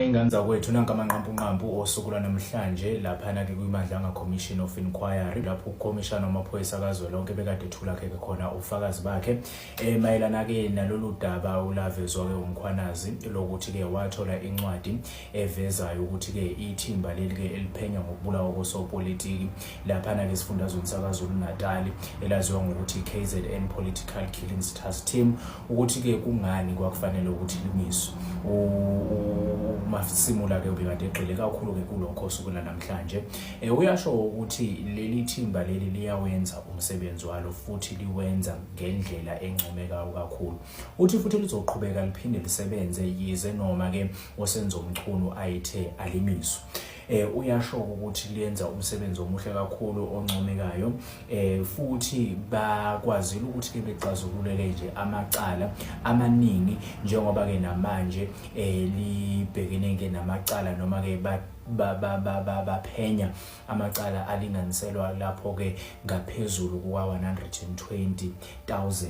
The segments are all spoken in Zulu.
Ingane zakwethu nanka amanqampunqampu osuku lwanamhlanje laphana-ke kwiMadlanga Commission of Inquiry lapho ukhomishana wamaphoyisa kazwelonke bekade ethula-ke-ke khona ubufakazi bakhe um mayelana-ke nalolu daba ulavezwa-ke umkhwanazi lokuthi-ke wathola incwadi evezayo ukuthi-ke ithimba leli-ke eliphenya ngokubulawa kosopolitiki laphana-ke esifundazweni sakazulu-natali elaziwa ngokuthi i-kzn political killings task team ukuthi-ke kungani kwakufanele ukuthi lungiswe umasimula-ke ubekade egxile kakhulu-ke kulokho osuku lanamhlanje um uyasho ukuthi leli thimba leli liyawenza umsebenzi walo futhi liwenza ngendlela encomekayo kakhulu uthi futhi lizoqhubeka liphinde lisebenze yize noma-ke osenzomchunu ayithe alimiswe eh uyasho ukuthi liyenza umsebenzi omuhle kakhulu oncomekayo eh futhi bakwazile ukuthi ke bexazululele nje amacala amaningi njengoba ke namanje eh libhekene ke namacala noma ke ba baphenya amacala alinganiselwa lapho ke ngaphezulu kuka 120000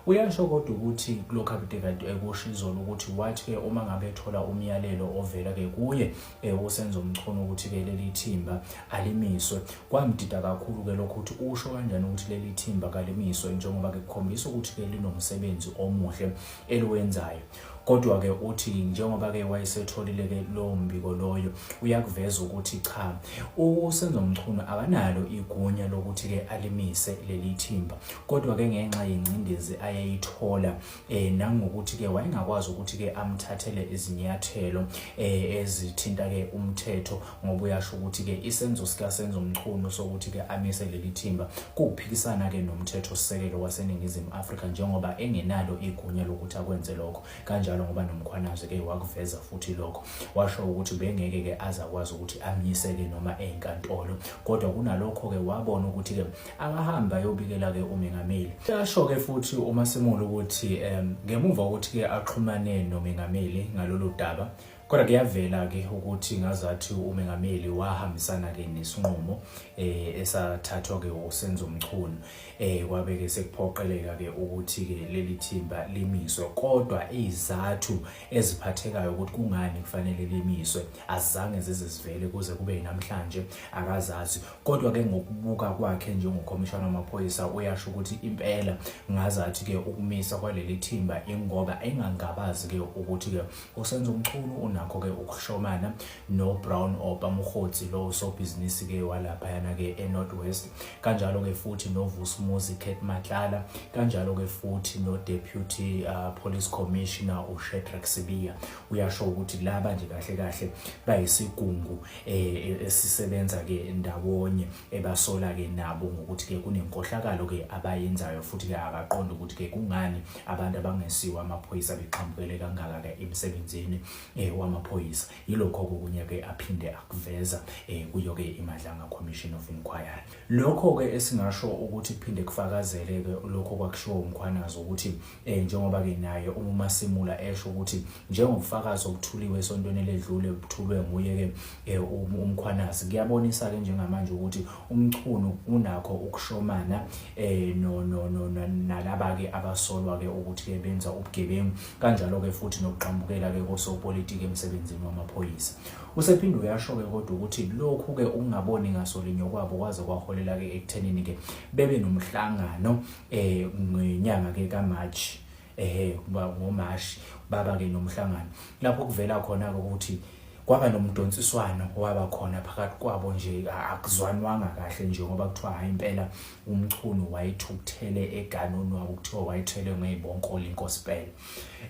uyasho kodwa ukuthi kulokho abudekade ekusho izolo ukuthi wathi ke uma ngabe ethola umyalelo ovela ke kuye eh, uSenzo Mchunu ukuthi-ke leli thimba alimiswe kwamdida kakhulu-ke lokho ukuthi usho kanjani ukuthi leli thimba kalimiswe njengoba-ke kukhombisa ukuthi-ke linomsebenzi omuhle eliwenzayo kodwa-ke uthi njengoba-ke wayesetholile-ke lowo mbiko loyo uyakuveza ukuthi cha usenzo mchunu akanalo igunya lokuthi-ke alimise leli thimba kodwa-ke ngenxa yengcindezi ayeyithola eh nangokuthi ke wayengakwazi ukuthi ke amthathele izinyathelo eh ezithinta ke umthetho ngoba uyasho ukuthi ke isenzo sika senzo mchunu sokuthi ke amise leli thimba kuphikisana ke nomthetho sisekelo waseningizimu Afrika njengoba engenalo igunya lokuthi akwenze lokho kanjalo ngoba nomkhwanazi ke wakuveza futhi lokho washo ukuthi bengeke ke azakwazi ukuthi amyiseke noma enkantolo kodwa kunalokho ke wabona ukuthi ke akahambe ayobikela-ke umengameli. Kuyasho-ke futhi uMasemola ukuthi um ngemuva kokuthi-ke axhumane nomengameli ngalolu daba kodwa kuyavela-ke ukuthi ngazathi umengameli wahambisana-ke nesinqumo eh esathathwa-ke usenzo mchunu eh kwabe-ke sekuphoqeleka-ke ukuthi-ke leli thimba limiswe kodwa izathu eziphathekayo ukuthi kungani kufanele limiswe azange zize zivele kuze kube namhlanje akazazi kodwa ke ngokubuka kwakhe njengokhomishana wamaphoyisa uyasho ukuthi impela ngazathi ke ukumisa kwaleli thimba ingoba engangabazi ke ukuthi ke usenza umchunu unakho ke ukuhlomana no Brown Opa Mkhotsi lo sobhizinisi ke walapha yana ke eNorth West kanjalo ke futhi no Vusumuzi Kate Matlala kanjalo ke futhi no Deputy uh, Police Commissioner uShedrack Sibiya uyasho ukuthi laba nje kahle kahle bayisigungu eh, esisebenza ke ndawonye ebasola ke nabo ngokuthi ke kunenkohlakalo ke abayenzayo futhi ke akaqonda ukuthi ke kungani abantu abangesiwa amaphoyisa bexhambukele kangaka ke emsebenzini eh, wamaphoyisa yilokho okunye ke aphinde akuveza eh, kuyo ke iMadlanga Commission of Inquiry Lokho-ke esingasho ukuthi kuphinde kufakazele-ke lokho kwakushiwo uMkhwanazi ukuthi um njengoba-ke naye uMasimula esho ukuthi njengobufakazi obuthuliwe esontweni eledlule buthulwe nguye-ke um uMkhwanazi kuyabonisa-ke njengamanje ukuthi uMchunu unakho ukushomana um nalaba-ke abasolwa-ke ukuthi-ke benza ubugebengu kanjalo-ke futhi nokuqambukela-ke kosopolitiki emsebenzini wamaphoyisa Usephinde uyasho-ke kodwa ukuthi lokhu-ke ukungaboni ngaso linye kwabo kwaze kwaholela-ke ekuthenini-ke bebe nomhlangano um ngenyanga-ke kamarch ehe ngomashi baba-ke nomhlangano lapho kuvela khona-ke ukuthi kwaba nomdonsiswano waba khona phakathi kwabo nje akuzwanwanga kahle nje ngoba kuthiwa hayi impela umchunu wayethukuthele eganoni wabo kuthiwa wayethelwe ngey'bonkoli inkosi pele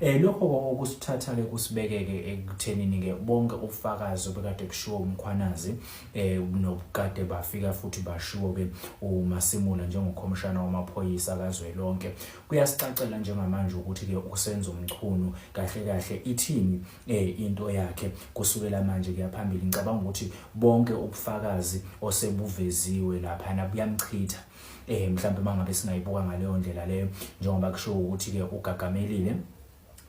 Eh lokho okusithatha ke kusibekeke ekuthenini ke bonke ubufakazi obekade kushiwo umkhwanazi eh nobukade bafika futhi bashiwo ke uMasimula njengokhomishana wamaphoyisa kazwelonke kuyasicacela njengamanje ukuthi ke usenza umchunu kahle kahle ithini eh into yakhe kusukela manje kuyaphambili ngicabanga ukuthi bonke ubufakazi osebuveziwe lapha na buyamchitha eh mhlawumbe mangabe singayibuka ngaleyo ndlela leyo njengoba kusho ukuthi ke ugagamelile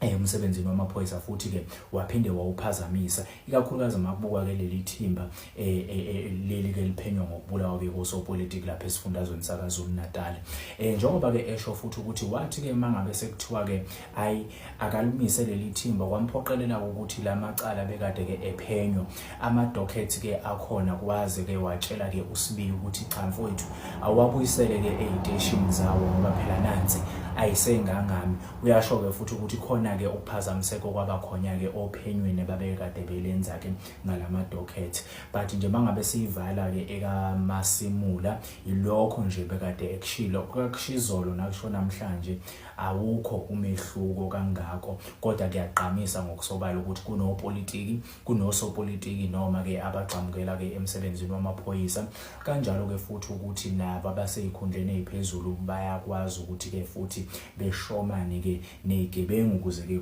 Eh, emsebenzini wamaphoyisa futhi ke waphinde wawuphazamisa ikakhulukazi makubuka ke leli thimba eh, eh, leli ke liphenywa ngokubulawa ke kosopolitiki lapha esifundazweni sakaZulu Natal eh njengoba ke esho futhi ukuthi wathi ke mangabe sekuthiwa ke ayi akalumise leli thimba kwamphoqelela ukuthi la macala bekade ke ephenywa ama-docket ke akhona kwaze ke watshela ke usibiyi ukuthi cha mfowethu awabuyisele ke ey'teshini zawo ngoba phela nansi ayisengangami uyasho-ke futhi ukuthi khona-ke ukuphazamiseko kwabakhona-ke ophenyweni babekade belenza-ke ngala ma-docket but nje mangabe siyivala-ke ekamasimula yilokho nje bekade ekushilo kakushizolo nakusho namhlanje Awukho umehluko kangako kodwa kuyagqamisa ngokusobala ukuthi kunopolitiki, kunosopolitiki noma-ke abagxamukela-ke emsebenzini wamaphoyisa. Kanjalo-ke futhi ukuthi nabo abaseyikhundleni eziphezulu bayakwazi ukuthi-ke futhi beshomane-ke nezigebengu ukuze-ke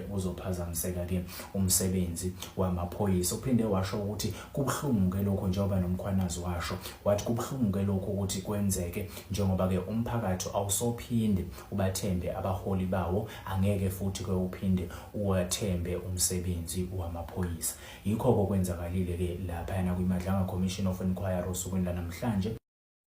kuzophazamiseka-ke umsebenzi wamaphoyisa. Uphinde washo ukuthi kubuhlungu-ke lokho njengoba nomkhwanazi washo wathi kubuhlungu-ke lokho ukuthi kwenzeke njengoba ke umphakathi awusophinde ubathembe abaholi bawo angeke futhi ke uphinde uwathembe umsebenzi wamaphoyisa yikho kokwenzakalile ke lapha yana kwiMadlanga Commission of Inquiry osukwini lanamhlanje